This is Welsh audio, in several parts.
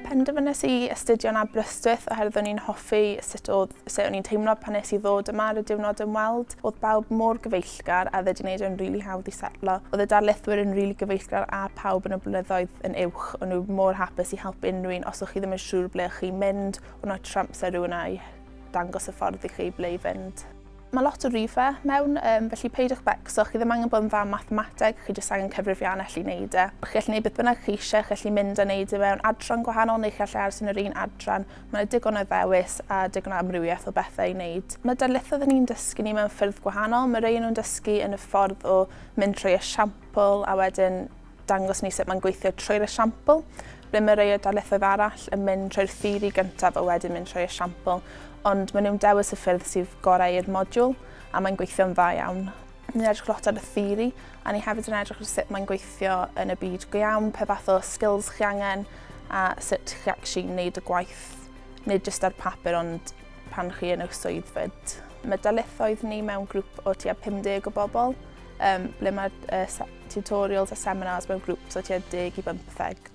Penderfynes i astudio'n Aberystwyth oherwydd o'n i'n hoffi sut oedd, sut o'n i'n teimlo pan nes i ddod yma ar y diwrnod ymweld. Oedd bawb mor gyfeillgar a oedd wedi gwneud e'n rili really hawdd i setlo. Oedd y darlithwyr yn rili really gyfeillgar a pawb yn y blynyddoedd yn uwch. O'n nhw mor hapus i helpu unrhyw un os o'ch chi ddim yn siŵr ble o'ch chi'n mynd, o'n nhw trwy amser rhywun a'i dangos y ffordd i chi ble i fynd. Mae lot o rife mewn, um, felly peidiwch becso, chi ddim angen bod yn dda mathemateg, chi jyst angen cyfrifiannell i wneud e. Chi gallu gwneud beth bynnag chi eisiau, chi gallu mynd a wneud e mewn adran gwahanol neu chi gallu aros yn yr un adran. Mae yna digon o ddewis a digon o amrywiaeth o bethau i wneud. Mae darlithoedd yn ni'n dysgu ni mewn ffyrdd gwahanol, mae rei nhw'n dysgu yn y ffordd o mynd trwy esiampl a wedyn dangos ni sut mae'n gweithio trwy'r esiampl, ble mae rei o darlithoedd arall yn mynd trwy'r theori gyntaf a wedyn mynd trwy'r esiampl, ond maen nhw'n dewis y ffyrdd sydd gorau i'r modiwl a mae'n gweithio'n dda iawn. Ni'n edrych lot ar y theori, a ni hefyd yn edrych ar sut mae'n gweithio yn y byd go iawn, pe fath o skills chi angen, a sut chi actually wneud y gwaith, nid jyst ar papur ond pan chi yn eich swydd fyd. Mae darlithoedd ni mewn grŵp o tua 50 o bobl, um, ble mae'r uh, tutorials a seminars mewn grŵps o tua 10 i 15.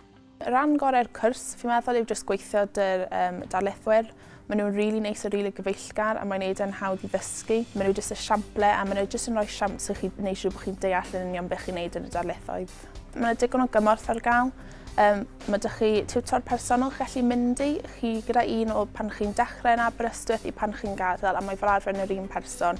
Rhan gorau'r cwrs, fi'n meddwl, yw jyst gweithio dy'r um, darlithwyr. Maen nhw'n rili really neis a rili really gyfeillgar a mae'n neud e'n hawdd i ddysgu. Maen nhw jyst y siample a maen nhw jyst yn rhoi siamps i chi wneud siŵr bod chi'n deall yn union beth chi'n neud yn y darlithoedd. Mae yna digon o gymorth ar gael. Um, mae ydych chi tiwtor personol chi'n gallu mynd i chi gyda un o pan chi'n dechrau yn Aberystwyth i pan chi'n gadael a mae fel arfer yn yr un person.